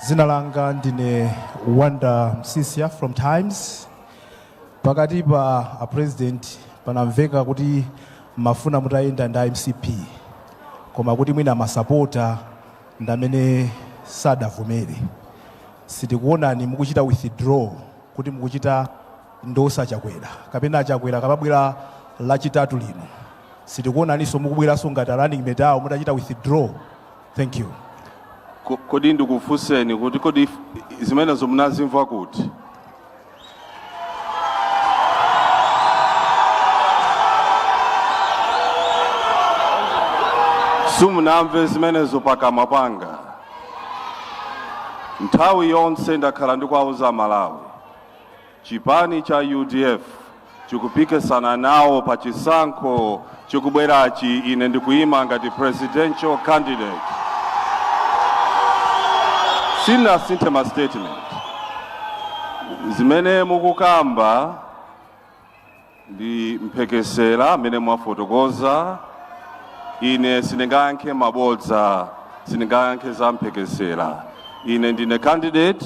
dzina langa ndine wonder msisia from times pakati pa a president panamveka kuti mumafuna mutayenda nda mcp koma kuti mwina masapota ndamene sadavomere sitikuonani mukuchita withdraw kuti mukuchita endorse a chakwera kapena a chakwera akamabwera lachitatu lino sitikuonaninso mukubweranso ngati running mate awo mutachita withdraw Thank you. Ko- Kodi ndikufunseni kuti kodi if- zimenezo munazimva kuti? Simunamve zimenezo pakamwa panga. Nthawi yonse ndakhala ndikuwauza aMalawi Chipani cha udf chikupikisana nawo pa chisankho chikubwerachi. Ine ndikuyima ngati presidential candidate. Sinasinthe ma statement zimene mukukamba ndi mphekesera mmene mwafotokoza. Ine sindingayankhe mabodza, sindingayankhe za mphekesera. Ine ndine candidate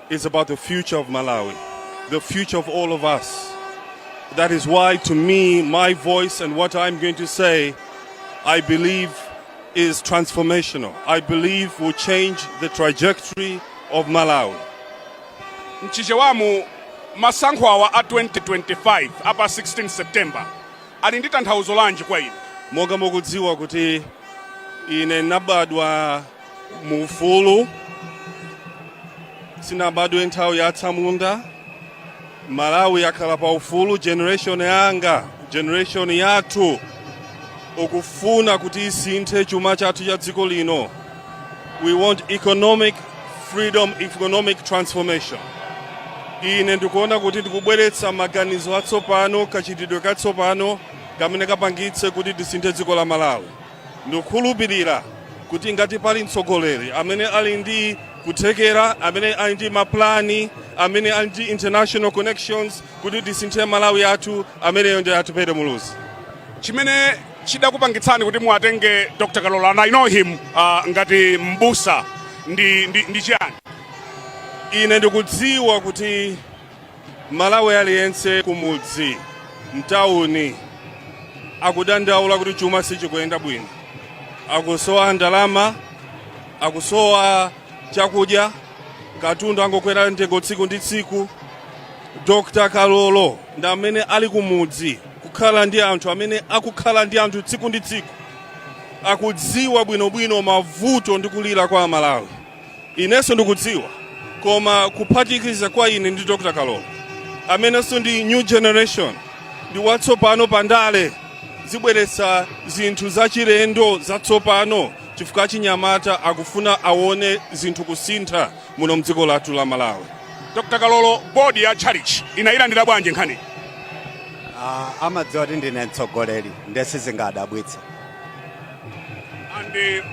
It's about the future of Malawi, the future of all of us. That is why, to me, my voice and what I'm going to say, I believe is transformational. I believe will change the trajectory of Malawi. mchichewamu masankho awa a 2025 apa 16 september ali ndi tanthauzo lanji kwa ine Monga mukudziwa kuti ine nabadwa mu ufulu sinabadwe nthawi ya atsamunda malawi yakhala pa ufulu generation yanga generation yathu ikufuna kuti isinthe chuma chathu cha dziko lino we want economic freedom economic transformation ine ndikuona kuti ndikubweretsa maganizo atsopano kachitidwe katsopano kamene kapangitse kuti tisinthe dziko la malawi Ndikukhulupirira kuti ngati pali mtsogoleri amene ali ndi kuthekera, amene ali ndi mapulani, amene ali ndi international connections kuti tisinthe Malawi wathu, ameneyo nda Atupele Muluzi. chimene chidakupangitsani kuti muwatenge dr kalola and i know him uh, ngati mbusa ndi, ndi, ndi chiyani Ine ndikudziwa kuti Malawi aliyense kumudzi mtawuni akudandaula kuti chuma sichikuyenda bwino, akusowa ndalama, akusowa chakudya, katundu angokwera mtengo tsiku ndi tsiku. Dr. Kalolo ndi amene ali kumudzi kukhala ndi anthu amene akukhala ndi anthu tsiku ndi tsiku, akudziwa bwinobwino mavuto ndi kulira kwa Amalawi. inenso ndikudziwa koma kuphatikiza kwa ine ndi dr kalolo amenenso ndi new generation ndi watsopano pa ndale zibweretsa zinthu zachilendo zatsopano chifukwa achinyamata akufuna awone zinthu kusintha muno mdziko lathu la malawi dr kalolo bodi ya tchalitchi inayilandira bwanji nkhani Ah, amadziwa kuti ndine mtsogoleri nde sizingadabwitse ande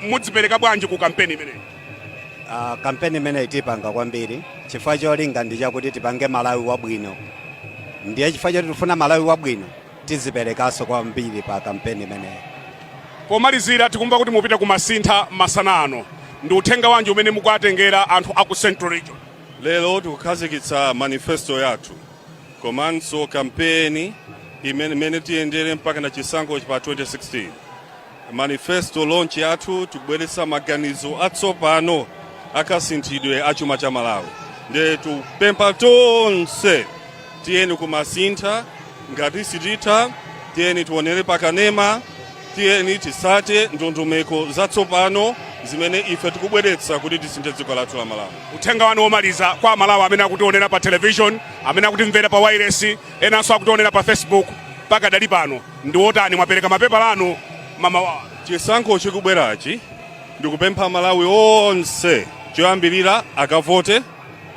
mudzipereka bwanji ku kampeni imeneyi Uh, kampeni imeneyi tipanga kwambiri chifukwa cholinga ndi chakuti tipange malawi wabwino ndiye chifukwa choti tifuna malawi wabwino tidziperekanso kwambiri pa kampeni imeneyi pomalizira tikumva kuti mupita ku masintha masana ano ndi uthenga wanji umene mukuatengera anthu aku central region lero tikukhazikitsa manifesto yathu komanso kampeni imene tiyendere mpakana chisankho pa 2016 manifesto launch yathu tikubweretsa maganizo atsopano akasinthidwe a chuma cha malawi nde tupempha tonse tiyeni ku masintha ngati sititha tiyeni tionere pakanema tiyeni titsate ndondomeko zatsopano zimene ife tikubweretsa kuti tisinthe dziko lathu la malawi uthenga wanu womaliza kwa amalawi amene akutionera pa television amene akutimvera pa wairesi enanso akutionera pa facebook pakadali pano ndi wotani mwapereka mapepala anu mmawawa chisankho chikubwerachi ndikupempha amalawi onse choyambirira akavote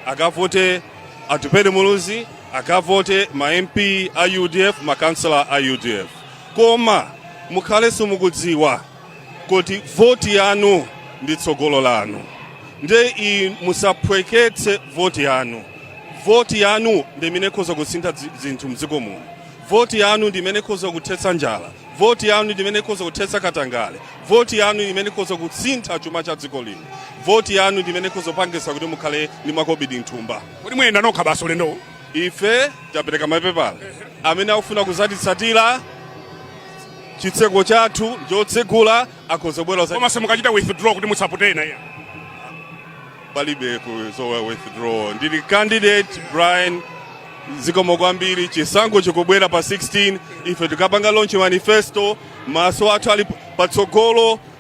akavote atupele muluzi akavote ma mp a udf makansala a udf Koma mukhalenso mukudziwa kuti voti yanu ndi tsogolo lanu, nde musaphweketse voti yanu. Voti yanu ndi imene ikhoza kusintha zinthu mdziko muno. Voti yanu ndi imene ikhoza kuthetsa njala. Voti yanu ndi imene ikhoza kuthetsa katangale. Voti yanu ndi imene ikhoza kusintha chuma cha dziko lino. Voti yanu ndi imene ikhoza kupangitsa kuti mukhale ndi makobidi mthumba. Kodi muyenda nokha basi ulendowu? ife tapereka mapepala amene akufuna kuzatitsatira chitseko chathu chotsegula akhoza kubwera koma simukuchita withdraw kuti musapote ena iyayi palibe kudzowa withdraw ndili candidate brian zikomo kwambiri chisankho chikubwera pa 16 ife tikapanga launch manifesto maso athu ali patsogolo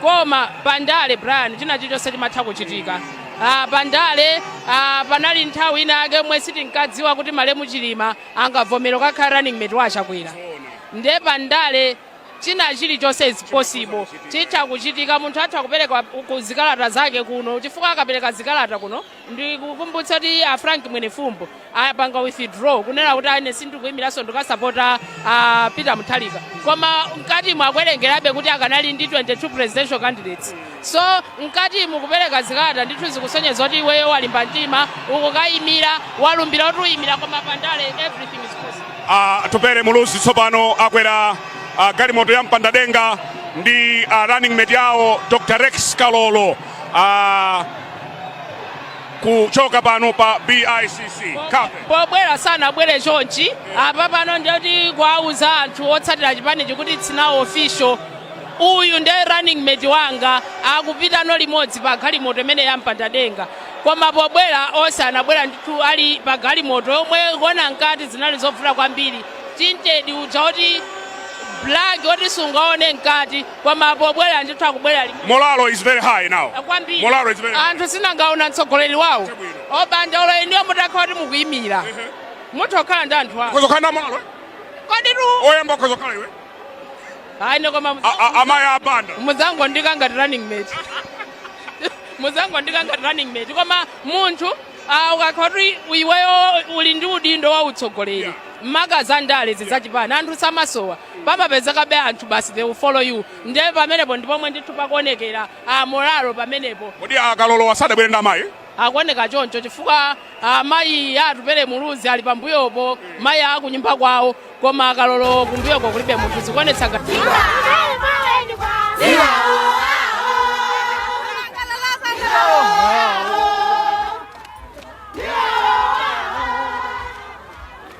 koma pandale brian china chilichonse chimatha kuchitika Ah, pandale ah, panali nthawi ina yake yomwe sitinkadziwa kuti malemu chilima angavomere kukhala running mate wa achakwera nde pandale china chilichonse is possible chitha kuchitika munthu atha kupereka ku zikalata zake kuno chifukwa akapereka zikalata kuno ndikukumbutsa kuti a frank mwenefumbo apanga withdraw kunena kuti ine sindikuyimiranso ndikasapota a peter mutharika koma mkati mwakuwerengerabe kuti akanali ndi 22 presidential candidates so mkati mukupereka zikalata ndithu zikusonyeza kuti iweyo walimba mtima ukukayimira walumbira kuti uyimira koma pandale everything is possible atupele muluzi tsopano akwera ah, galimoto ya mpandadenga ndi ah, running mate yawo dr rex kalolo Ah, kuchoka pano pa bicc pobwera sanabwere chonchi apa pano ndi oti kuwauza anthu otsatira chipanichi kuti it's now official uyu ndiye running mate wanga akupitano limodzi pa galimoto imene yampanda denga koma pobwera onse anabwera ndithu ali pa galimoto yomwe kuona mkati zinali zovuta kwambiri tintedi uja oti black oti sungaone mkati koma pobwera ndithu akubwera limo Morale is very high now. kwambiri Morale is very high. anthu si angoona mtsogoleri wawo obanja olo inuyo mutakhala kuti mukuyimira mutha kukhala ndi anthu awo Ukhoza kukhala ndi morale? kodi tu Oyamba ukhoza kukhala iwe? ayi ine koma A- a- Amayi abanda. muzangondiika ngati running mate muzangondiika ngati running mate koma munthu ah, ukakhala kuti iweyo uli ndi udindo wa utsogoleri maka za ndale zi za chipani anthu samasowa pamapezekabe anthu basi they will follow you ndiye pamenepo ndi pomwe ndithu pakuonekera ah, morale pamenepo kodi akalolo wa sadabwere ndi amayi akuoneka choncho chifukwa ah, mayi atupele muluzi ali pambuyopo mayi akunyumba kwawo koma akalolo kumbuyoko kulibe munthu zikuonetsa ngati